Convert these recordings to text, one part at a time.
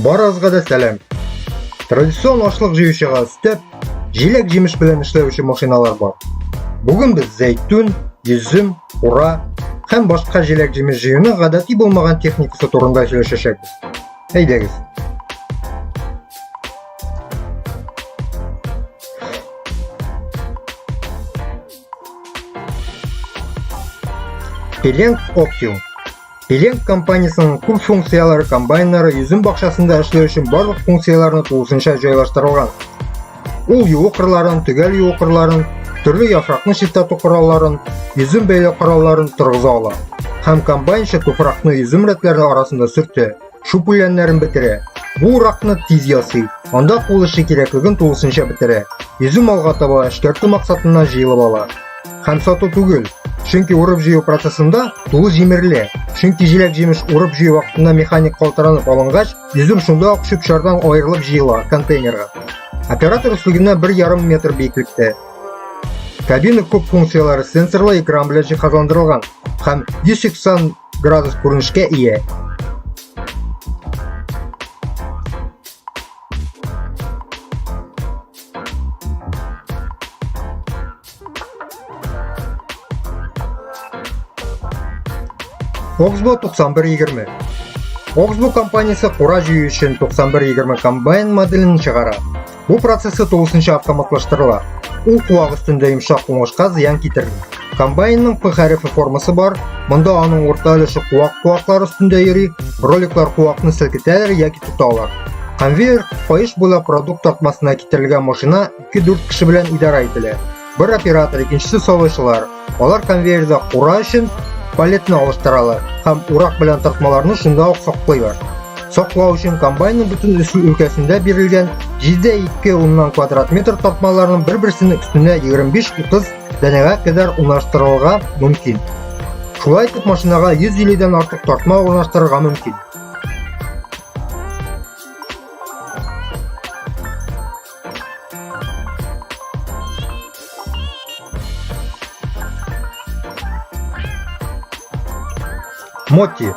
Баразга да сәлам. Традицион ашлык җыючыга өстәп, җиләк җимеш белән эшләүче машиналар бар. Бүген без зәйтүн, йөзем, ура һәм башка җиләк җимеш җыюны гадәти булмаган техникасы турында сөйләшәчәкбез. Әйдәгез. Пеленг Оптиум Пеленг компаниясенең күп функцияләре комбайннары йөзем бакчасында эшләү өчен барлык функцияләрне тулысынча җайлаштырылган. Ул юу кырларын, төгәл юу кырларын, төрле яфракны чистарту коралларын, йөзем бәйләү коралларын торгыза ала. Һәм комбайнчы туфракны йөзем рәтләре арасында сөртә, шуп үләннәрен бетерә. Бу уракны тиз ясый, анда кул эше кирәклеген тулысынча бетерә. Йөзем алга таба эшкәртү максатыннан җыелып ала. Һәм сату түгел, чөнки урып җыю процессында тулы җимерелә. Чөнки җиләк-җимеш урып җыю вакытында механик калтыранып алынгач, йөзем шунда ук чүп-чардан аерылып җыела контейнерга. Оператор өслегеннән 1,5 метр биеклектә. Кабина күп функцияләре сенсорлы экран белән җиһазландырылган һәм 180 градус күренешкә ия. Oxbow 9120 Oxbow компаниясе кура җыю өчен 9120 комбайн моделен чыгара. Бу процессы тулысынча автоматлаштырыла. Ул куак өстендә йомшак уңышка зыян китерми. Комбайнның П хәрефе формасы бар, монда аның урта өлеше куак куаклар өстендә йөри, роликлар куакны селкетәләр яки тоталар. Конвейер каеш буйлап продукт тартмасына китерелгән машина 2-4 кеше белән идарә ителә. Бер оператор, икенчесе савычлар. Алар конвейерда кура өчен палетны алыштыралар һәм урак белән тартмаларны шунда ук саклыйлар. Саклау өчен комбайнның бөтен үсү өлкәсендә бирелгән 7,2 уннан квадрат метр тартмаларның бер-берсенең өстенә 25-30 данәгә кадәр урнаштырырга мөмкин. Шулай итеп машинага 150 дән артык тартма урнаштырырга мөмкин. Моти.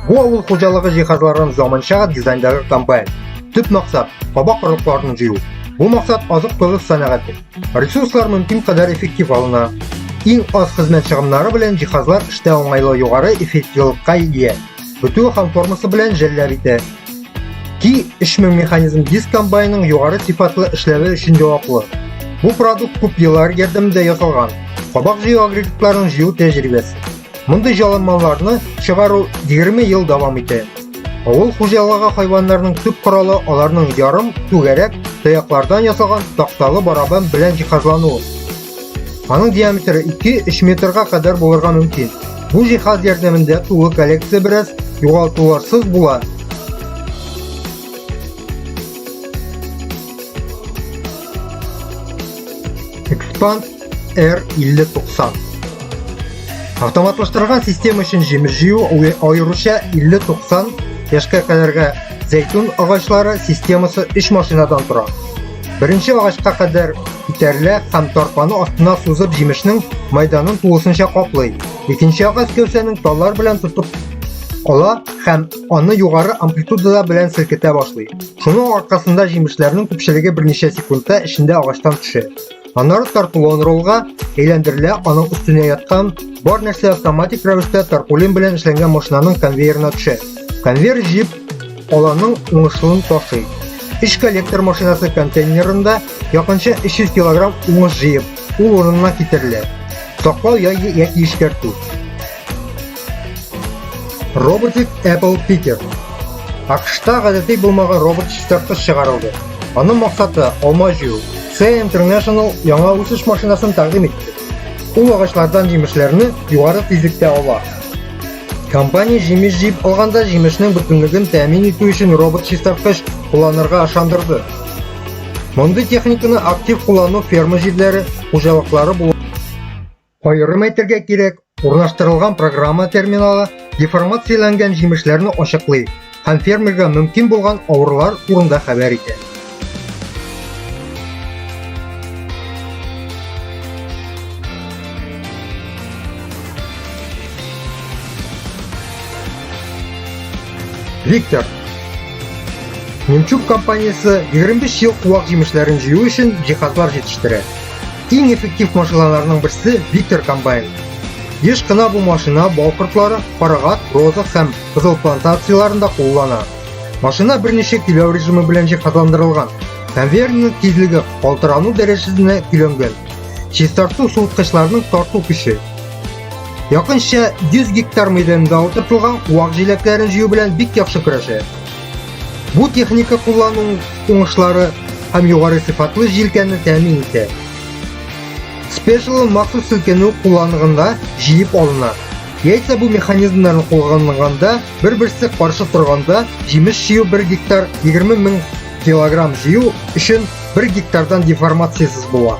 Бу авыл хуҗалыгы җиһазларын заманча дизайндагы комбайн. Төп максат кабак орлыкларын җыю. Бу максат азык-төлек сәнәгате. Ресурслар мөмкин кадәр эффектив алына. Иң аз хезмәт чыгымнары белән җиһазлар эштә уңайлы югары эффективлыкка ия. Бөтүе һәм формасы белән жәлләр итә. Ки 3000 механизм диск комбайнның югары сыйфатлы эшләве өчен җаваплы. Бу продукт күп еллар ярдәмендә ясалган. Кабак җыю агрегатларын җыю тәҗрибәсе. Мондый җалымаларны чыгару 20 ел дәвам итә. Авыл хуҗалыгы хайваннарының төп коралы аларның ярым түгәрәк таяклардан ясалган такталы барабан белән җиһазлануы. Аның диаметры 2-3 метрга кадәр булырга мөмкин. Бу җиһаз ярдәмендә тулы коллекция бераз югалтуларсыз була. Expand R5090 Автоматлаштырылган система өчен җимеш җыю аеруча 50-90 яшькә кадәрге зәйтүн агачлары системасы 3 машинадан тора. Беренче агачка кадәр күтәрелә һәм тарпаны астына сузып җимешнең майданын тулысынча каплый. Икенче агач гәүсәнең таллар белән тотып ала һәм аны югары амплитудада белән селкетә башлый. Шуның аркасында җимешләрнең күпчелеге берничә секундта эчендә агачтан төшә. Аннары тартулон ролга әйләндерелә, аның өстенә яткан бар нәрсә автоматик рәвештә тарпулин белән эшләнгән машинаның конвейерына төшә. Конвейер җип аланың уңышлын ташый. Эш коллектор машинасы контейнерында якынча 300 килограмм уңыш җыеп, ул урынына китерелә. Саклау яки эшкәртү. Robotic Apple Picker. Акшта гадәти булмаган робот чистарткыч чыгарылды. Аның максаты алма җыю. C International яңа үсеш машинасын тәкъдим итте. Ул агачлардан җимешләрне югары тизлектә ала. Компания җимеш җыеп алганда җимешнең бөтенлеген тәэмин итү өчен робот чистарткыч кулланырга ышандырды. Мондый техниканы актив куллану ферма җирләре, хуҗалыклары булып Аерым әйтергә кирәк, урнаштырылган программа терминалы деформацияләнгән җимешләрне ачыклый һәм фермерга мөмкин булган авырулар турында хәбәр итә. Виктор Немчук компаниясе 25 ел куак җимешләрен җыю өчен җиһазлар җитештерә. Иң эффектив машиналарның берсе Виктор комбайн. Еш кына бу машина бал кортлары, карагат, роза һәм кызыл плантацияләрендә куллана. Машина берничә көйләү режимы белән җиһазландырылган. Конвейерның тизлеге калтырану дәрәҗәсенә көйләнгән. Чистарту суыткычларының тарту көче. Якынча 100 гектар мәйданда утыртылган вак җиләкләрен җыю белән бик яхшы көрәшә. Бу техника куллану уңышлары һәм югары сыйфатлы җилкәне тәэмин итә. Special махсус селкенү кулланылганда җыеп алына. Яйца бу механизмнарны кулланганда бер-берсе каршы торганда җимеш җыю 1 гектар 20 мең килограмм җыю өчен 1 гектардан деформациясез була.